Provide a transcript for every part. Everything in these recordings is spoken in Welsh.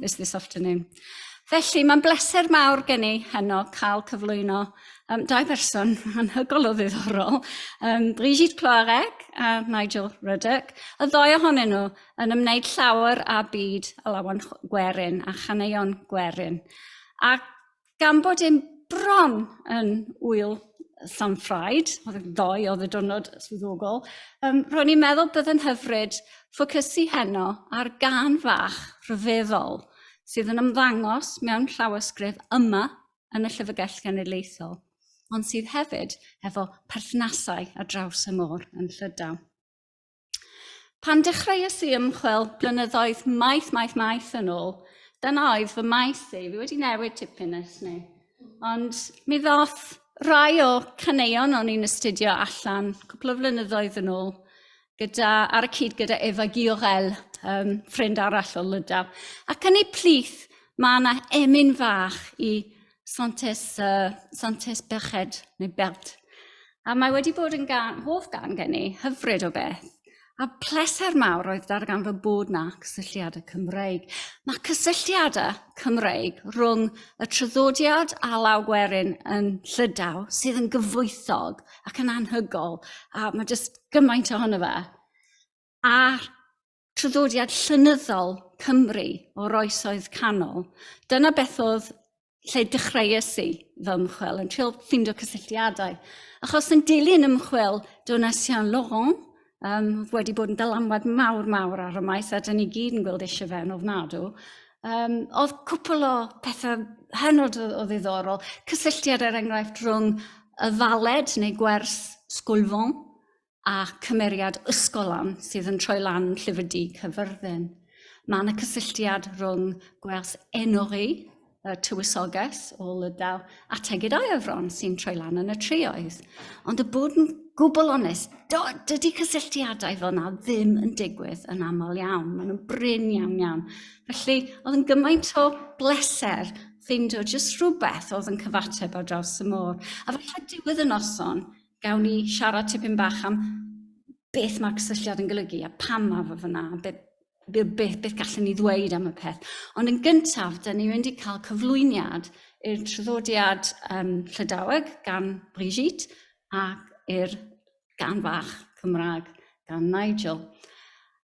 this, this afternoon. Felly, mae'n bleser mawr gen i heno cael cyflwyno um, dau berson anhygol o ddiddorol, um, Brigitte Ploarec a Nigel Ruddock, y ddoi ohonyn nhw yn ymwneud llawer â byd alawan gwerin a chaneuon gwerin. Ac gan bod e'n bron yn wyl Llanffraid, oedd yn ddoe oedd y diwrnod swyddogol, um, ro'n i'n meddwl byddai'n hyfryd ffocysu heno ar gan fach rhyfeddol sydd yn ymddangos mewn llawysgrif yma yn y Llyfrgell Genedlaethol, ond sydd hefyd efo perthnasau ar draws y môr yn Llydaw. Pan dechreuais i ymchwil blynyddoedd maith, maith, maith yn ôl, dyna oedd fy maes i. Fi wedi newid tipyn ers ni. Ond mi ddoth rai o caneuon o'n i'n astudio allan cwpl o flynyddoedd yn ôl, gyda, ar y cyd gyda Eva Giorel, um, ffrind arall o Lydaw. Ac yn ei plith, mae yna emyn fach i Santes, uh, Santes Berched, neu Belt. A mae wedi bod yn gan, hoff gan gen i, hyfryd o beth. A pleser mawr oedd dargan fy bod na cysylltiadau Cymreig. Mae cysylltiadau Cymreig rhwng y traddodiad a law gwerin yn llydaw sydd yn gyfoethog ac yn anhygol. A mae jyst gymaint ohono fe. A traddodiad llenyddol Cymru o'r oesoedd canol. Dyna beth oedd lle dechreuais i fy ymchwil, yn trio ffindo cysylltiadau. Achos yn dilyn ymchwil Donatien Laurent, um, wedi bod yn dylanwad mawr mawr ar y maes, a dyn ni gyd yn gweld eisiau fe'n ofnadw, um, oedd cwpl o pethau hynod o, o ddiddorol, cysylltiad er enghraifft rhwng y faled neu gwers sgwlfon, a cymeriad ysgolhaun sydd yn troi lan Llyfr Du Cyfyrddin. Mae yna cysylltiad rhwng gwers enori y tywysoges o Lydaw a tegidau efron sy'n troi lan yn y trioedd. Ond y bod yn gwbl onest, dydy cysylltiadau fel yna ddim yn digwydd yn aml iawn. Maen nhw'n brin iawn iawn. Felly, oedd yn gymaint o bleser ffeindio jyst rhywbeth oedd yn cyfateb ar draws y môr. A falle diwedd y noson, Gawn ni siarad tipyn bach am beth mae'r cysylltiad yn golygu a pam mae fe fyna, be, be, be, beth gallwn ni ddweud am y peth. Ond yn gyntaf, dyn ni'n mynd i cael cyflwyniad i'r traddodiad um, Llydaweg gan Brigitte ac i'r gan fach Cymraeg gan Nigel.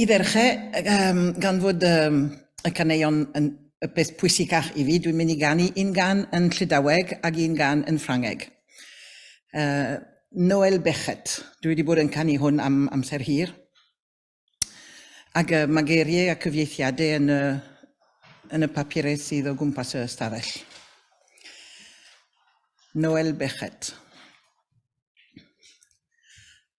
I ddechrau, yym, gan fod yym, y caneuon yn y peth pwysicach i fi, dwi'n mynd i ganu un gan yn Llydaweg ac un gan yn Ffrangeg. Uh, Noel Bechet, dwi wedi bod yn canu hwn am amser hir. Ac uh, mae geiriau a cyfieithiadau yn y, yn y papurau sydd o gwmpas y stafell. Noel Bechet.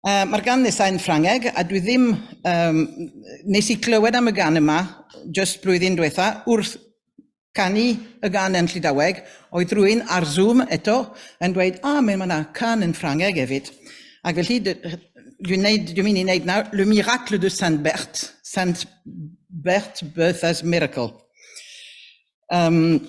Uh, Mae'r gan nesaf yn Ffrangeg, a dwi ddim... Um, nes i glywed am y gan yma, just blwyddyn diwetha, wrth canu y gan yn Llydaweg, oedd rwy'n ar Zoom eto yn dweud, a, ah, mae yna can yn Ffrangeg hefyd. Ac felly, dwi'n mynd i wneud nawr Le Miracle de Saint Bert, Saint Bert Bertha's Miracle. Um,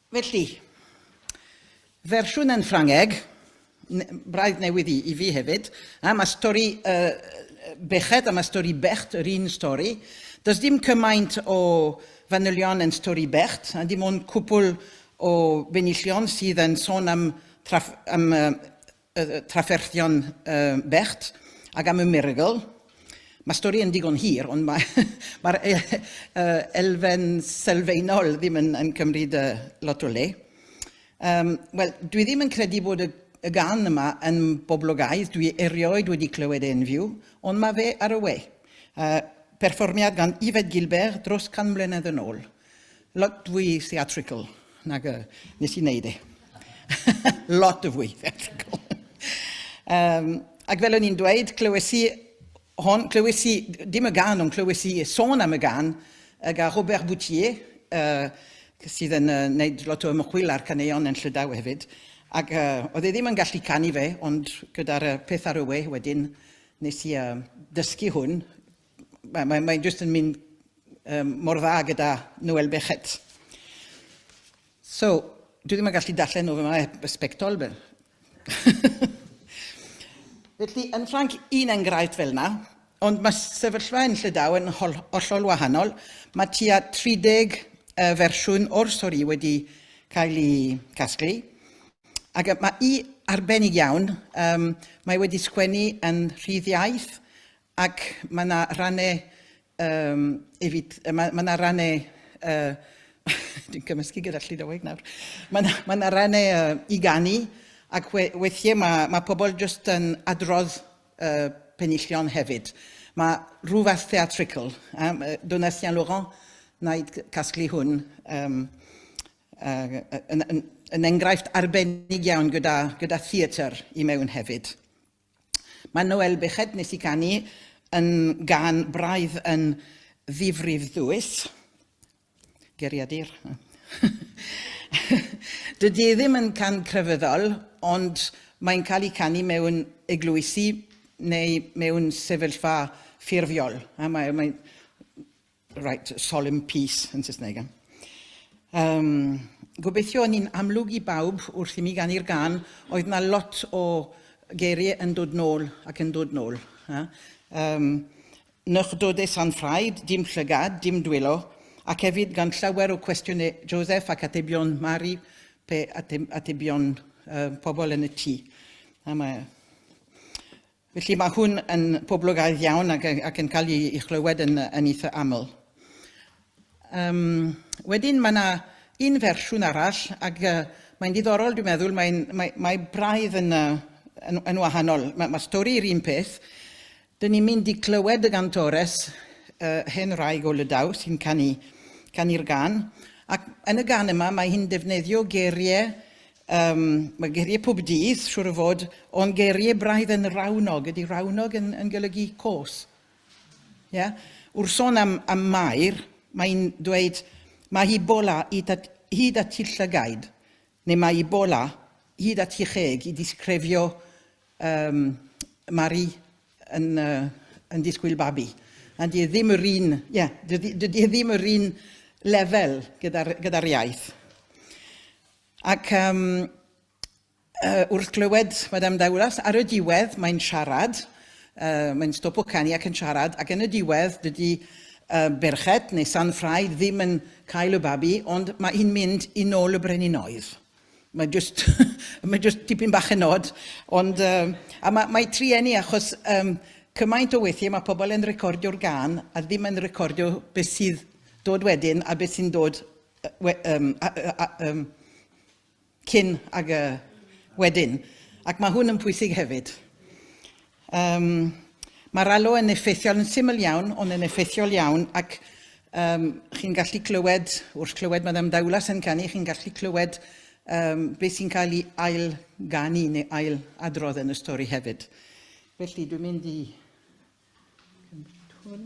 Felly, fersiwn yn Ffrangeg, braidd newydd i fi hefyd, am y stori Beched, am y stori Becht, yr un stori. Does dim cymaint o fanylion yn stori Becht, a dim ond cwpl o benillion sydd yn sôn am y trafferthion bechd ac am y Miracle. Mae'r stori yn digon hir, ond mae'r elfen sylfaenol ddim yn cymryd lot o le. Wel, dwi ddim yn credu bod y y gan yma yn boblogaidd, dwi erioed wedi clywed e'n fyw, ond mae fe ar y we. Perfformiad gan Yvette Gilbert dros can mlynedd yn ôl. Lot fwy theatrical nag y nes i wneud e. Lot o fwy theatrical. um, ac fel o'n i'n dweud, clywes i hon, clywes i, dim y gan, ond clywes i sôn am y gan gyda Robert Boutier, uh, sydd yn uh, wneud lot o ymchwil ar caneuon yn Llydaw hefyd. Ac uh, oedd e ddim yn gallu canu fe, ond gyda'r uh, peth ar y we wedyn, nes i uh, dysgu hwn, Mae'n mae, mae just yn mynd um, mor dda gyda Noel Bechet. So, dwi ddim yn gallu darllen o fe mae e sbectol. Felly, yn Ffranc, un enghraifft fel yna, ond mae sefyllfa yn Llydaw yn hollol wahanol. Mae tua 30 uh, fersiwn o'r stori wedi cael ei casglu. Ac mae i arbennig iawn, um, mae wedi sgwennu yn rhydd iaith, Ac mae yna rannau um, efyd, mae, mae yna rannau uh, dwi'n cymysgu gyda Llydaweg nawr. Mae yna, mae yna rannau uh, i ganu, ac we, weithiau mae, mae pobl jyst yn adrodd uh, penillion hefyd. Mae rhywbeth theatrical. Um, Donatien Laurent wnaed casglu hwn um, uh, yn, yn, yn enghraifft arbennig iawn gyda, gyda theatr i mewn hefyd. Mae Noel Beckett, wnes i ganu, yn gan braidd yn ddifrif ddwys. Geriadur. Dydy ddim yn can crefyddol, ond mae'n cael ei canu mewn eglwysi neu mewn sefyllfa ffurfiol. A mae, mae Reit, solemn peace yn Saesneg. Um, gobeithio o'n i'n amlwg i bawb wrth i mi ganu'r gan, oedd na lot o geiriau yn dod nôl ac yn dod nôl. Ha? Um, nychdodau San Ffraid, dim llygad, dim dwylo, ac hefyd gan llawer o cwestiynau Joseph ac atebion Mari pe atebion uh, pobl yn y tŷ. A mae Felly mae hwn yn poblogaidd iawn ac, ac yn cael ei, ei chlywed yn, yn eitha aml. Um, wedyn mae yna un fersiwn arall ac uh, mae'n diddorol dwi'n meddwl, mae, mae, mae braidd yn, uh, yn, yn wahanol. Mae, mae stori yr un peth. Dyn ni'n mynd i clywed y gantores uh, hen raig o Lydaw sy'n canu, canu'r gan. Ac yn y gan yma mae hi'n defnyddio geiriau Um, mae geiriau pob dydd, siwr o fod, ond geiriau braidd yn rawnog. Ydy rawnog yn, yn golygu cos? Yeah? Wrth sôn am, am Mair, mae'n dweud, mae hi bola hyd at, hyd at hi llygaid, neu mae hi bola hyd at hi cheg i disgrefio um, Mari yn, uh, yn disgwyl babi. A dydy e ddim yr un, yeah, dydy, dydy e ddim yr un lefel gyda'r gyda iaith. Ac um, uh, wrth glywed Madame Dauras, ar y diwedd mae'n siarad, uh, mae'n stopo canu ac yn siarad, ac yn y diwedd dydy uh, berched neu san ffraid ddim yn cael y babi, ond mae hi'n mynd i nôl y brenin oedd. Mae just, mae just tipyn bach yn nod, ond um, a mae, mae trienni achos um, cymaint o weithiau mae pobl yn recordio'r gan a ddim yn recordio beth sydd dod wedyn a beth sy'n dod we, um, a, a, um, cyn ag y wedyn, ac mae hwn yn pwysig hefyd. Um, Mae'r alo yn effeithiol yn syml iawn, ond yn effeithiol iawn, ac um, chi'n gallu clywed, wrth clywed Madame Daulas yn canu, chi'n gallu clywed um, beth sy'n cael ei ail ganu neu ail adrodd yn y stori hefyd. Felly, dwi'n mynd i... Cymryd hwn.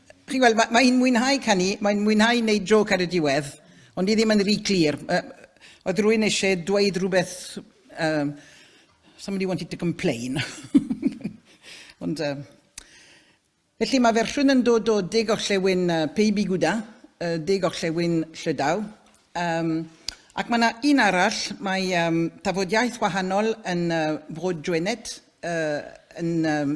Chi'n gweld, mae, mae hi'n mwynhau canu, mae'n mwynhau wneud joc ar y diwedd, ond i ddim yn rhy clir. Uh, oedd rwy'n eisiau dweud rhywbeth... Um, somebody wanted to complain. ond... Uh, Felly mae fersiwn yn dod o De Gorllewin uh, Peibi Gwda, uh, De Gorllewin Llydaw. Um, ac mae yna un arall, mae um, tafodiaeth wahanol yn uh, Frod Jwenet, uh, yn um,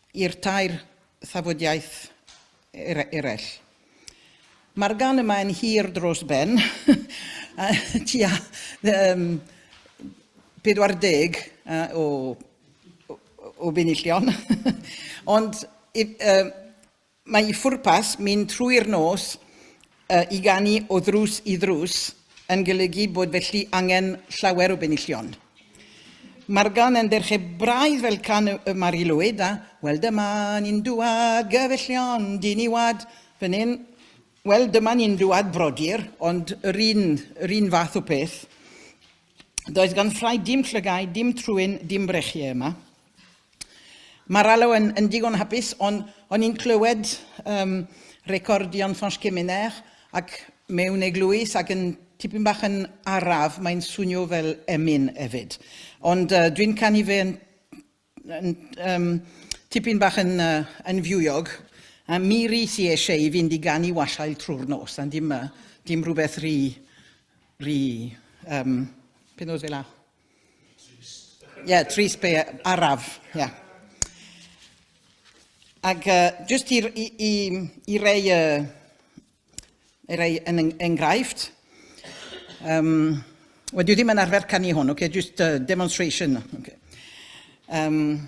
i'r tair thafodiaith eraill. Mae'r gan yma yn hir dros ben, a tua um, 40 uh, o, o, o benillion, ond if, uh, Mae ei phwrpas, mynd trwy'r nos i ganu o ddrws i ddrws, yn golygu bod felly angen llawer o benillion. Mae'r gan yn derche braidd fel can y Mari Lwyd a Wel dyma ni'n dŵad gyfellion dyn i wad fan hyn. Wel dyma ni'n dŵad brodyr, ond yr un, yr un fath o peth. Does gan ffrae dim llygaid, dim trwyn, dim brechie yma. Mae'r alw yn, yn digon hapus, ond o'n i'n clywed um, record Jan van Schemenair ac mewn eglwys ac yn tipyn bach yn araf, mae'n swnio fel emyn hefyd. Ond uh, dwi'n canu fe yn, yn um, tipyn bach yn, uh, yn fiwiog, a mi ri si eisiau i fynd i ganu wasiail trwy'r nos, a dim, uh, dim rhywbeth rhi, rhi um, penod fel la. Trist. Ie, yeah, trist be araf. Ie. Yeah. Ac uh, jyst i, i, i, i rei, uh, i rei yn enghraifft, um, wel, dwi ddim yn arfer canu hwn, okay? just uh, demonstration. Okay. Um,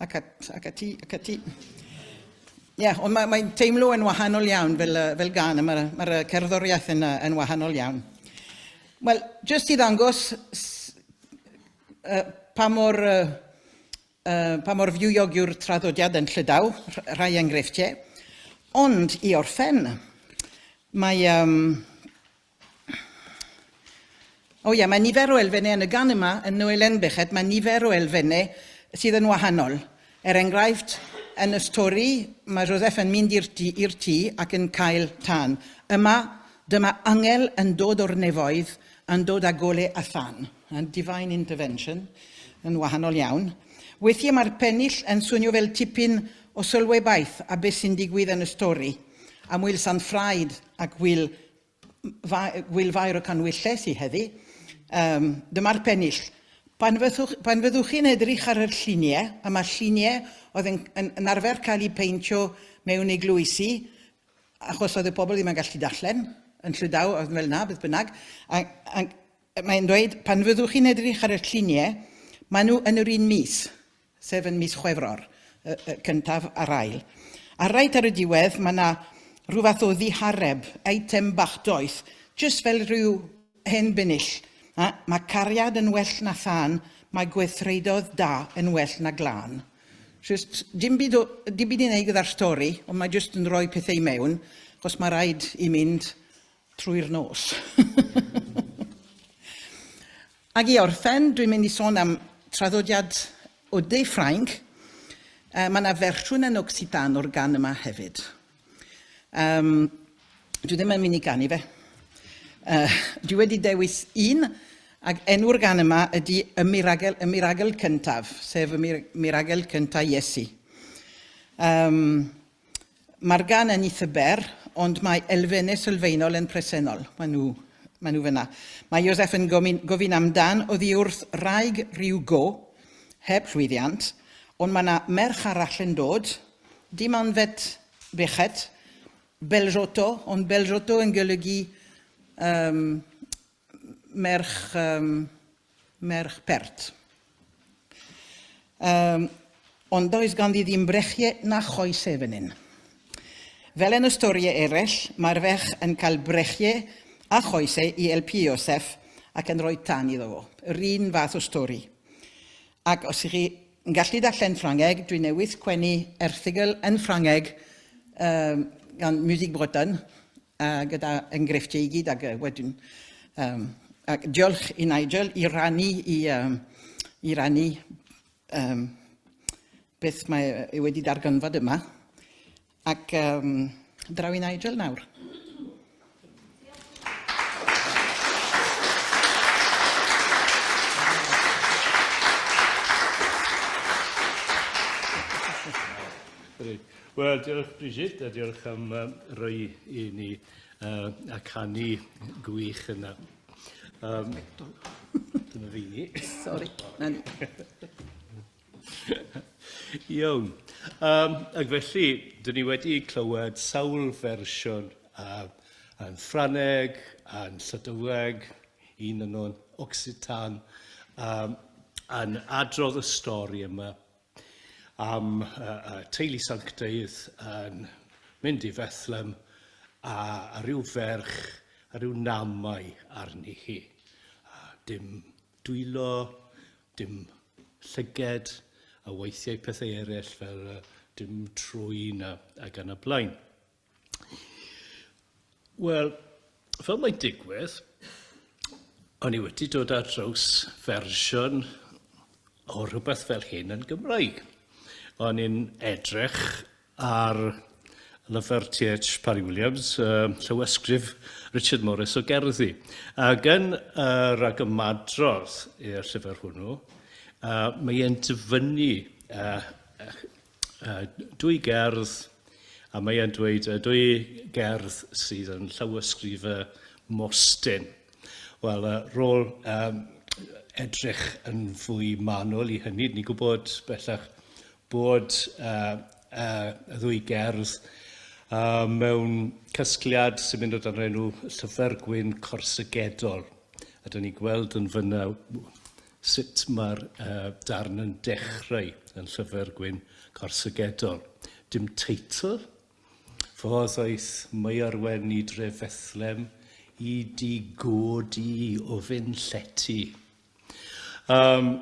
Ac at, ac ati, ac ati. Ie, yeah, ond mae'n mae teimlo yn wahanol iawn fel, uh, fel gan, mae'r ma, ma cerddoriaeth yn, uh, yn wahanol iawn. Wel, jyst i ddangos uh, pa mor, uh, pa mor fywog yw'r traddodiad yn llydaw, rhai enghreifftiau. Ond i orffen, mae, um, O ia, mae nifer o elfennau yn y gan yma, yn Noel Enbechet, mae nifer o elfennau sydd yn wahanol. Er enghraifft, yn y stori, mae Joseph yn mynd i'r tŷ, i'r tŷ ac yn cael tân. Yma, dyma angel yn dod o'r nefoedd, yn dod â gole a thân. Divine intervention, yn wahanol iawn. Weithiau mae'r pennill yn swnio fel tipyn o sylwebaeth a beth sy'n digwydd yn y stori, am Wil Sant Ffraid ac Wil Wil Fair o Canwylles i heddi. Um, dyma'r pennill. Pan, fyddwch, pan fyddwch chi'n edrych ar yr lluniau, a mae'r lluniau oedd yn, yn, yn arfer cael eu peintio mewn eglwysi, achos oedd y pobl ddim yn gallu darllen, yn Llydaw, oedd fel na, beth bynnag. A, a, mae'n dweud, pan fyddwch chi'n edrych ar y lluniau, maen nhw yn yr un mis. sef yn mis Chwefror, y y cyntaf a'r ail. A reit ar y diwedd mae 'na rhyw fath o ddihareb, eitem bach doeth, jyst fel rhyw hen binill. A, mae cariad yn well na thân, mae gweithredoedd da yn well na glân. Jyst dim byd o, dim byd i wneud gyda'r stori, ond mae jyst yn rhoi pethau i mewn, achos mae rhaid i mynd trwy'r nos. Ac i orffen, dwi'n mynd i sôn am traddodiad o de Ffrainc. Uh, mae yna fersiwn yn Occitan o'r gan yma hefyd. Um, dwi ddim yn mynd i ganu fe. Uh, dwi wedi dewis un Ac enw'r gan yma ydy y miragel, y miragel cyntaf, sef y mir, miragel cyntaf Iesu. Um, Mae'r gan yn eitha ber, ond mae elfennau sylfaenol yn presennol. Mae nhw, mae nhw fyna. Mae Joseph yn gofyn, gofyn amdan oddi wrth raig rhyw go, heb llwyddiant, ond mae yna merch arall yn dod, dim anfed bechet, Belzotto, ond Belzotto yn golygu um, merch, um, merch pert. Um, ond does ganddi ddim brechie na choese fan hyn. Fel yn y storiau eraill, mae'r ferch yn cael brechie a choese i elpu Iosef ac yn rhoi tan iddo fo. Yr un fath o stori. Ac os ydych chi'n gallu darllen Ffrangeg, dwi newydd sgwennu erthigl yn Ffrangeg um, gan Music Breton, A gyda engrefftiau i gyd, ac wedyn... Um, ac diolch i Nigel i rannu, i, um, i rannu um, beth mae e wedi darganfod yma. Ac um, draw i Nigel nawr. Wel, diolch Bridget, a diolch am uh, roi i ni uh, a canu gwych yna. Um, dyna fi ni. Sorry, na ni. Iawn. Um, ac felly, dyn ni wedi clywed sawl fersiwn uh, yn Ffraneg, yn Llydyweg, un yn o'n Occitan, um, yn adrodd y stori yma am y teulu sanctaidd yn mynd i Fethlem a rhyw ferch a rhyw namau arni hi. Dim dwylo, dim llyged a weithiau pethau eraill fel dim trwyn a gan y blaen. Wel, fel mae'n digwydd, o'n i wedi dod ar draws fersiwn o rhywbeth fel hyn yn Gymraeg. O'n i'n edrych ar lyfr TH Parry Williams, uh, llywysgrif Richard Morris o gerddi. Ac yn y rhag ymadrodd i'r llyfr hwnnw, uh, mae e'n dyfynnu uh, uh, dwy gerdd, a mae e'n dweud uh, dwy gerdd sydd yn llawysgrif y Mostyn. Wel, uh, rôl um, edrych yn fwy manwl i hynny, ni'n gwybod bellach bod uh, uh, y ddwy gerdd uh, mewn casgliad sy'n mynd o dan enw Llyfr Gwyn Corsygedol. A dyn ni'n gweld yn fyna Sut mae'r darn yn dechrau yn Llyfr Gwyn Corsygedol? Dim teitl? Fodd aeth Maerwen i dre Fethlem i di god i o fyn llety. Um,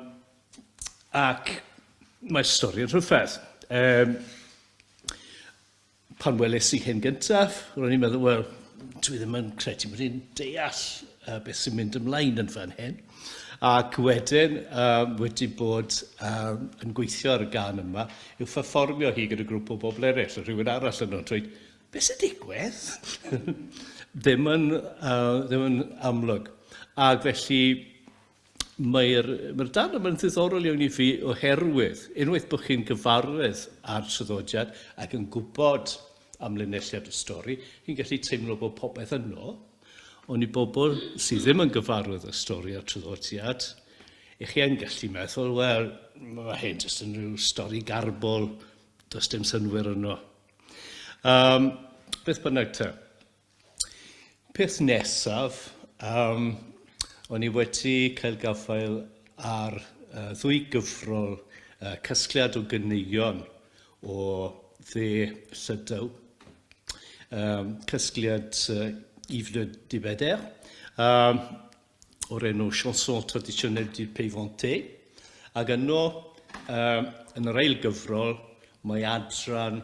ac mae'r stori'n rhyfedd. Um, Pan weles i hyn gyntaf, ro'n i'n meddwl, wel, dwi ddim yn credu bod i'n deall uh, beth sy'n mynd ymlaen yn fan hyn. Ac wedyn, uh, wedi bod uh, yn gweithio ar y gan yma, yw fferfformio hi gyda grŵp o bobl eraill, rhywun arall yn o'n dweud, beth sy'n digwydd? ddim, yn, uh, ddim yn amlwg. Ac felly, Mae'r mae'r darn yma'n ddiddorol iawn i fi oherwydd unwaith bod chi'n gyfarwydd â'r traddodiad ac yn gwybod am linelliad y stori, chi'n gallu teimlo bod popeth yno, ond i bobl sydd ddim yn gyfarwydd â stori a'r traddodiad, i chi yn gallu meddwl, wel, mae hyn jyst yn rhyw stori garbol, does dim synwyr yno. Um, beth bynnag te. Peth nesaf, yym, o'n i wedi cael gafael ar uh, ddwy gyfrol uh, casgliad o ganeuon o dde Llydaw, um, casgliad uh, Yves le Dibeder, um, o'r enw Chanson traditionnelle du Pays Vanté, ac yno, uh, yn yr ail gyfrol, mae adran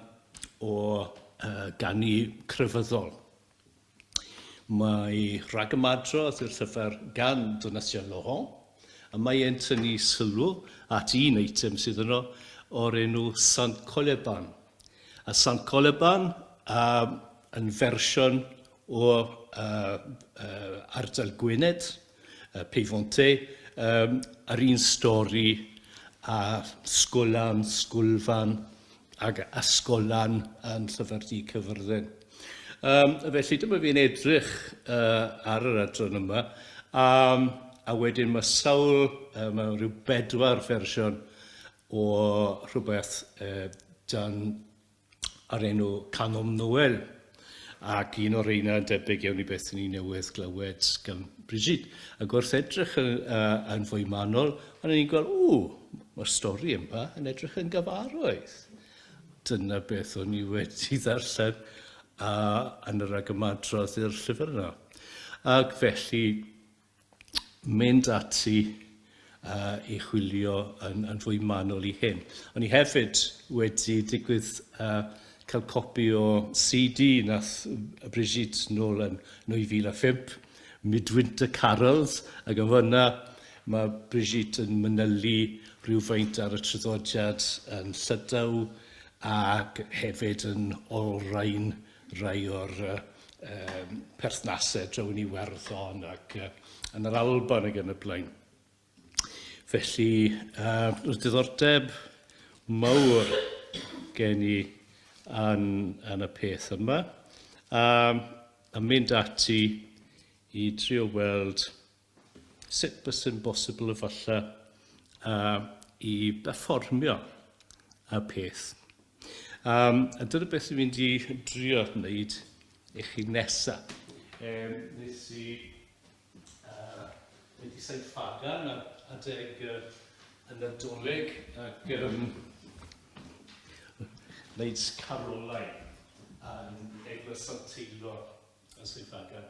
o uh, ganu crefyddol. Mae rhag ymadrodd i'r llyfr gan Donatien Laurent, a mae e'n tynnu sylw at un eitem sydd yno o'r enw Sant Coleban. A Sant Coleban uh, yn fersiwn o ardal Gwynedd, Peifonte, yr un stori a sgolân, sgolfan ac ysgollan yn Llyfr Du Caerfyrddin. Felly dyma fi'n edrych ar yr adran yma a wedyn mae sawl, mae rhyw bedwar fersiwn o rhywbeth dan o'r enw Canom Noel, ac un o'r reina yn debyg iawn i beth i ni newydd glywed gan Brigid. Ac wrth edrych yn, uh, yn fwy manol, ond ni'n gweld, ww, mae'r stori yma yn edrych yn gyfarwydd. Dyna beth o'n i wedi ddarllen uh, yn yr agymadrodd i'r llyfr yna. Ac felly, mynd ati uh, i chwilio yn, yn fwy manwl i hyn. O'n i hefyd wedi digwydd uh, cael copi o CD nath Brigitte nôl yn 2005, Midwinter Carols, ac yn fyna mae Brigitte yn mynylu rhywfaint ar y tryddodiad yn Llydaw ac hefyd yn olrhain rhai o'r perthnasau draw yn Iwerddon ac yn yr Alban ac yn y blaen. Felly, roedd diddordeb mawr gen i yn, yn y peth yma. A, a mynd ati i drio weld Sut byswn bosibl efallai uh, i berfformio y peth? Um, a dyna beth dwi'n mynd i drio wneud i chi nesaf. Um, nes i uh, mynd i Saint Fagan a adeg uh, y Nadolig ac um, wneud carolau yn Eglwys Sant Teilo yn Swydd Fagan.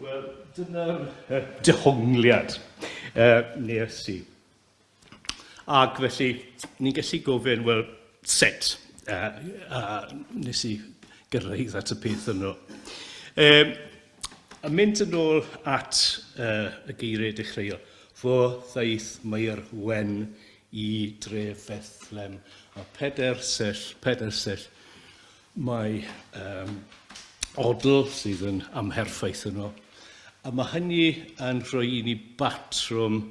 Wel, dyna'r dehongliad uh, nes i. Ac felly, ni'n gallu gofyn, wel, set, uh, uh, nes i gyrraedd at y peth yno. Um, A mynd yn ôl at uh, y geiriau dechreuol, fo ddaeth Mair Wen i dref Fethlem, a peder sell, peder sell, mae um, odl sydd yn amherffaith yno. A mae hynny yn rhoi i ni batrwm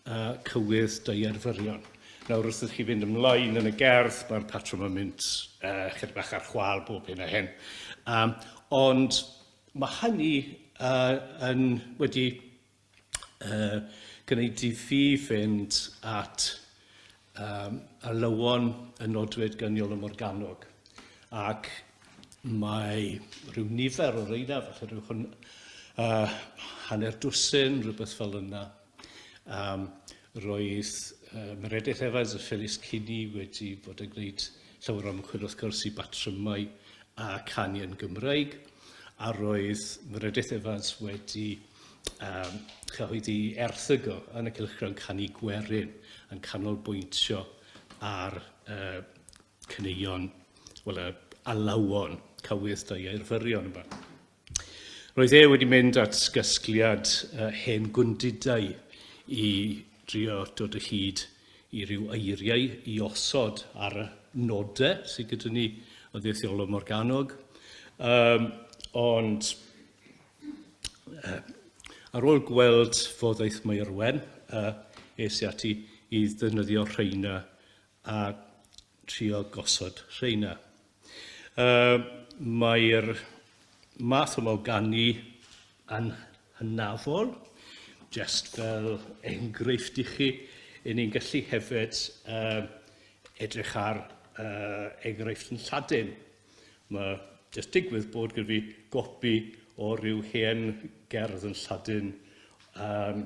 a cywydd deuerfyrion. Nawr wrth i chi fynd ymlaen yn y gerdd, mae'r patrwm yn mynd uh, chydig bach ar chwal bob hyn a hyn. Um, ond mae hynny uh, yn wedi uh, gwneud i fi fynd at um, alywon y nodwyd gyniol y Morganog. Ac mae rhyw nifer o reina, felly rhyw hwn, uh, hanner dwsin, rhywbeth fel yna, Um, roedd uh, Meredith Evans a Phyllis Kinney wedi bod yn gwneud llawer o ymchwil wrth gwrs i batrymau a canu yn Gymraeg, a roedd Meredith Evans wedi um, chyhoeddi erthygo yn y cylchgrawn canu gwerin yn canolbwyntio ar uh, Cyneuon, wel y alawon cywydd da i Eirfyrion yma. Roedd e wedi mynd at gasgliad uh, hen gwndidau i drio dod o hyd i ryw eiriau i osod ar y nodau sydd gyda ni o ddeithiolwr Morganog. Um, ond uh, ar ôl gweld fodd eith Maerwen, uh, es i ati i ddefnyddio rheina a trio gosod rheina. Uh, Mae'r math yma o ganu yn hynafol, just fel enghraifft i chi, yn ni'n gallu hefyd uh, edrych ar uh, enghraifft yn Lladin. Mae jyst digwydd bod gyda fi gopi o ryw hen gerdd yn Lladin um,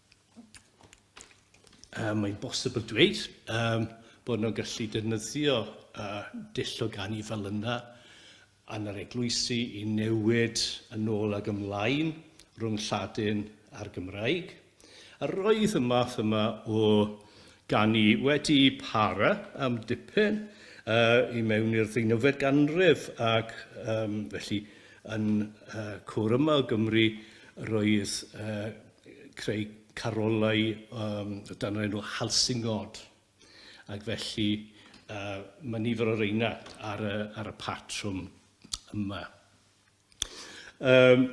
uh, mae'n bosibl dweud um, bod nhw'n gallu defnyddio uh, dull o ganu fel yna yn yr eglwysi i newid yn ôl ag ymlaen rhwng Lladin a'r Gymraeg. A roedd y math yma o ganu wedi para am dipyn uh, i mewn i'r ddeunyfed ganrif ac um, felly yn uh, cwr yma o Gymru roedd uh, creu carolau um, dan yr enw Halsingod. Ac felly uh, mae nifer o reina ar y, ar y patrwm yma. Um,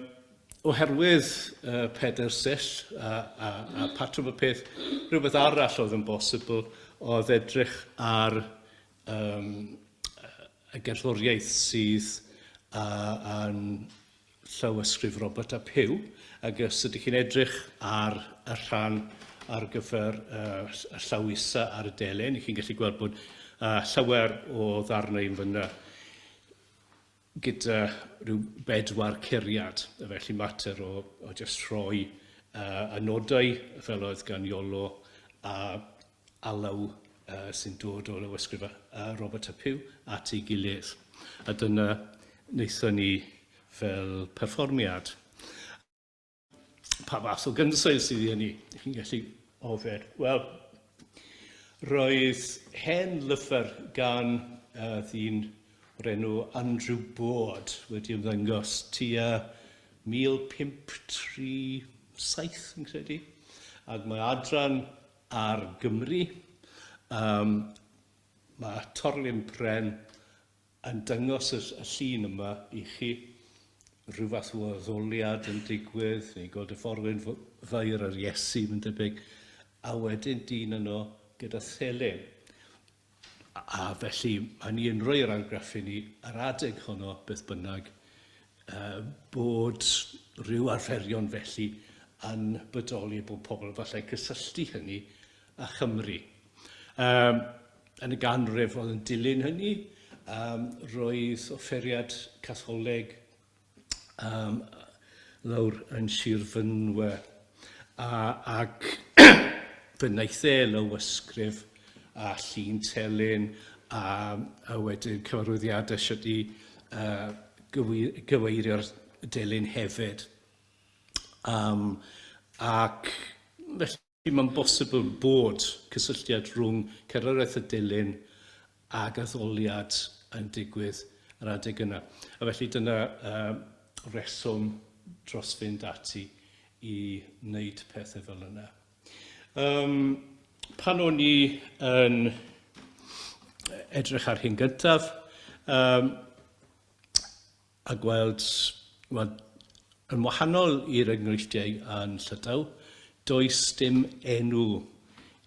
oherwydd uh, peder sell a, a, a patrwm y peth, rhywbeth arall oedd yn bosibl oedd edrych ar um, y gerddoriaeth sydd uh, yn llawysgrif Robert ap Huw, ac os ydych chi'n edrych ar y rhan ar gyfer y llaw isa ar y delyn, chi'n gallu gweld bod llawer o ddarnau yn fyna gyda rhyw bedwar curiad, felly mater o, o jyst rhoi uh, y nodau fel oedd gan Iolo a alw sy'n dod o lawysgrif Robert a Pugh at ei gilydd. A dyna wnaethon ni fel perfformiad. Pa fath o gynsail sydd i hynny? Chi'n gallu offer. Wel, roedd hen lyfr gan ddyn o'r enw Andrew Boord wedi ymddangos tua 1537 fi'n credu, ac mae adran ar Gymru. Yym, mae Torlyn Pren yn dyngos y llun yma i chi. Rhyw fath o addoliad yn digwydd, ni'n gweld y forwyn fair ar Iesu, mae'n debyg, a wedyn dyn yno gyda thelyn. A felly, hynny yn rhoi yr argraff i ni, yr adeg honno, beth bynnag, bod rhyw arferion felly yn bodoli bod pobl yn falle cysylltu hynny a Chymru. Yn y ganrif oedd yn dilyn hynny, roedd offeriad catholeg um, lawr yn Sir Fynwe. A, ac fe wnaeth e lywysgrif a llun telyn a, a wedyn cyfarwyddiadau sydd wedi uh, gyweirio'r delyn hefyd. Um, ac felly Mae'n bosibl bod cysylltiad rhwng cerddoriaeth y delyn ag addoliad yn digwydd yr adeg yna. A felly dyna yy reswm dros fynd ati i wneud pethau fel yna. Um, pan o'n i yn edrych ar hyn gyntaf, um, a gweld, wel, yn wahanol i'r enghreifftiau yn Llydaw, does dim enw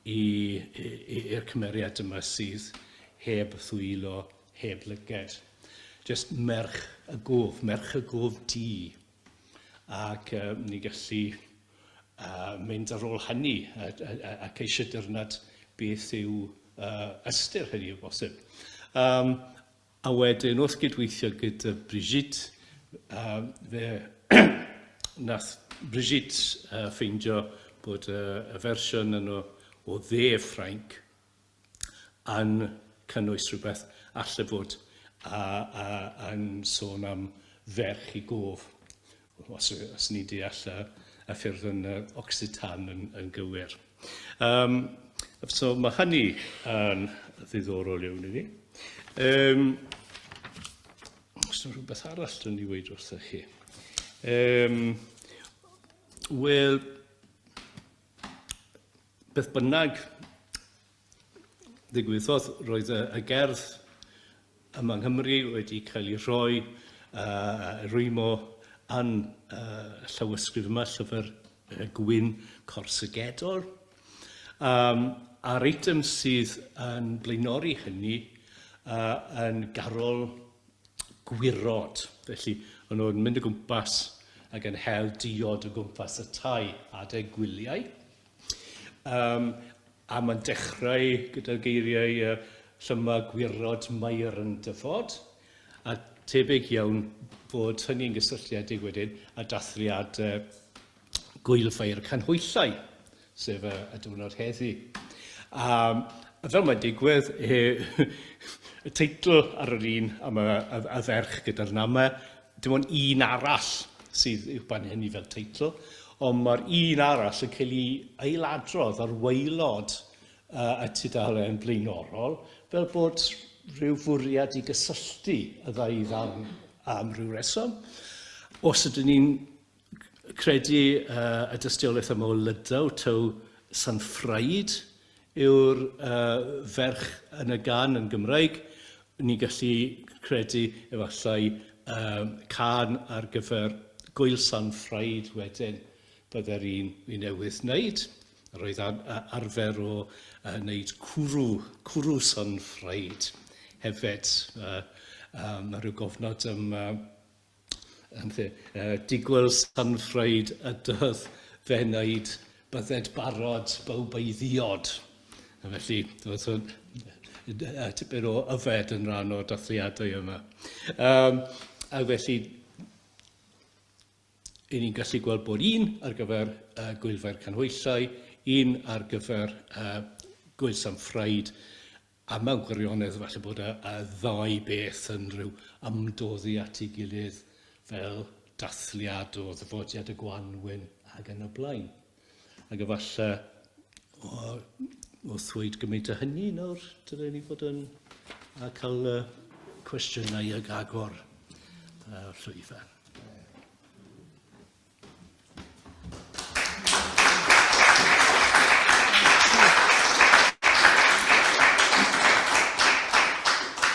i'r cymeriad yma sydd heb ddwylo, heb lyged. Jyst merch y gof, merch y gof du. Ac ni'n gallu mynd ar ôl hynny ac eisiau dyrnad beth yw ystyr hynny o bosib. A wedyn wrth gydweithio gyda Brigitte, yym, fe nath Brigitte yy ffeindio bod y y fersiwn yno o dde Ffrainc yn cynnwys rhywbeth alle fod a- a- yn sôn am ferch i gof. Os, os ni deall y, y ffyrdd yn y Occitan yn, yn gywir. Um, so mae hynny yn ddiddorol iawn i ni. Um, os yna rhywbeth arall yn ei weid wrthych chi. Um, Wel, beth bynnag, ddigwyddodd, roedd y, y gerdd yma yng Nghymru wedi cael ei rhoi uh, rwymo yn uh, llawysgrif yma, llyfr uh, gwyn corsygedol. Um, a'r eitem sydd yn blaenori hynny uh, yn garol gwirod. Felly, maen nhw'n mynd o gwmpas ac yn hel diod o gwmpas y tai adeg gwyliau. Um, A mae'n dechrau gyda'r geiriau yy llyma gwirod Mair yn dyfod, a tebyg iawn fod hynny'n gysylltiedig wedyn â dathliad yy Gŵyl Ffair Canhwyllau, sef y y diwrnod heddi. A fel mae'n digwydd, yy y teitl ar yr un am y y y ferch gyda'r name, Dim ond un arall sydd i'w bennu fel teitl, ond mae'r un arall yn cael ei ailadrodd ar waelod y tudalen blaenorol fel bod rhyw fwriad i gysylltu y ddau ddarn am ryw reswm. Os ydyn ni'n Credu y dystiolaeth yma o Lydaw, taw San Ffraid yw'r ferch yn y gan yn Gymraeg. Ni'n gallu credu efallai cân ar gyfer Gwyl San Ffraid wedyn byddai'r un fi newydd wneud. Yr oedd arfer o wneud cwrw, cwrw San Ffraid hefyd. Mae rhyw gofnod am Yn lle, uh, digwyl sanfraid y dydd fe wneud bydded barod bawb ei ddiod. A felly, doedd hwn tipyn o yfed yn rhan o'r dathliadau yma. Um, a felly, i ni'n gallu gweld bod un ar gyfer uh, Gwylfa'r Canhwyllau, un ar gyfer uh, Gwyl Sam Ffraid, A mewn gwirionedd, falle bod y ddau beth yn rhyw ymdoddi at ei gilydd fel dathliad o ddyfodiad y gwanwyn ac yn y blaen. Ac efallai, wrth ddweud gymaint o hynny nawr, dylen ni fod yn cael cwestiynau ag agor y llwyfan.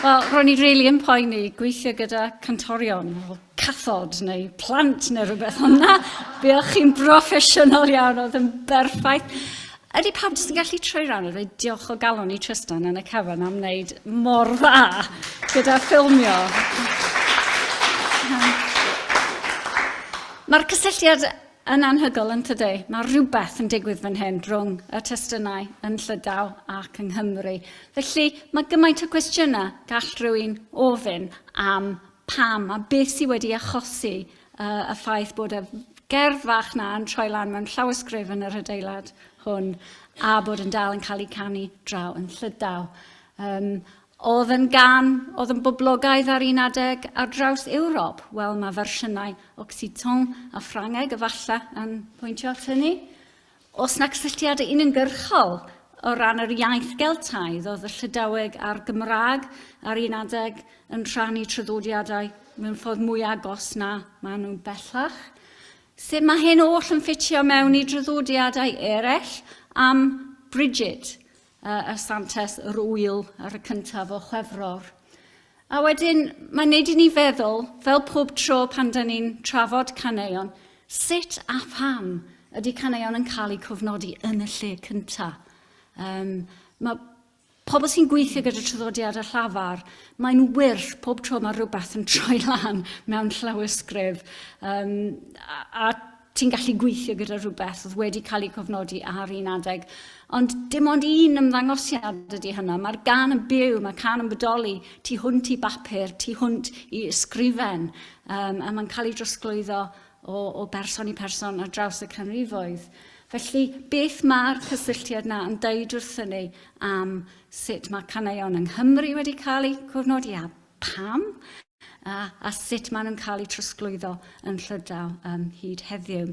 Wel, ro'n i really yn poeni gweithio gyda cantorion, cathod neu plant neu rhywbeth ond na, buoch chi'n broffesiynol iawn, oedd yn berffaith. Ydy pawb jyst yn gallu troi rhan a dweud diolch o galon i Trystan yn y cefn am wneud mor dda gyda ffilmio. Mae'r cysylltiad yn anhygol yn tydi. Mae rhywbeth yn digwydd fan hyn rhwng y testunau yn Llydaw ac yng Nghymru. Felly mae gymaint o gwestiynau gall rhywun ofyn am pam a beth sydd wedi achosi uh, y ffaith bod y gerdd fach na yn troi lan mewn llawysgrif yn yr adeilad hwn a bod yn dal yn cael ei canu draw yn llydaw. Um, oedd yn gan, oedd yn boblogaidd ar un adeg ar draws Ewrob. Wel, mae fersiynau Occitan a Ffrangeg efallai yn pwyntio at hynny. Oes 'na gysylltiad uniongyrchol o ran yr iaith Geltaidd? Oedd y Llydaweg a'r Gymraeg ar un adeg yn rhannu traddodiadau mewn ffordd mwy agos na maen nhw'n bellach? Sut mae hyn oll yn ffitio mewn i draddodiadau eraill am Bridget a Santes yr Ŵyl ar y cyntaf o Chwefror. A wedyn, mae'n neud i ni feddwl, fel pob tro pan da ni'n trafod caneuon, sut a pham ydy caneuon yn cael eu cofnodi yn y lle cyntaf. Um, mae pobl sy'n gweithio gyda traddodiad a llafar, mae'n wyrth pob tro mae rhywbeth yn troi lan mewn llawysgrif. Um, a, a Ti'n gallu gweithio gyda rhywbeth oedd wedi cael ei cofnodi ar un adeg, ond dim ond un ymddangosiad ydy hynna. Mae'r gan yn byw, mae can yn bodoli tu hwnt i bapur, tu hwnt i ysgrifen, um, a mae'n cael ei drosglwyddo o, o berson i person ar draws y canrifoedd. Felly, beth mae'r cysylltiad na yn dweud wrthyn ni am sut mae caneuon yng Nghymru wedi cael eu cofnodi a pam? a sut maen nhw'n cael eu trosglwyddo yn Llydaw hyd heddiw.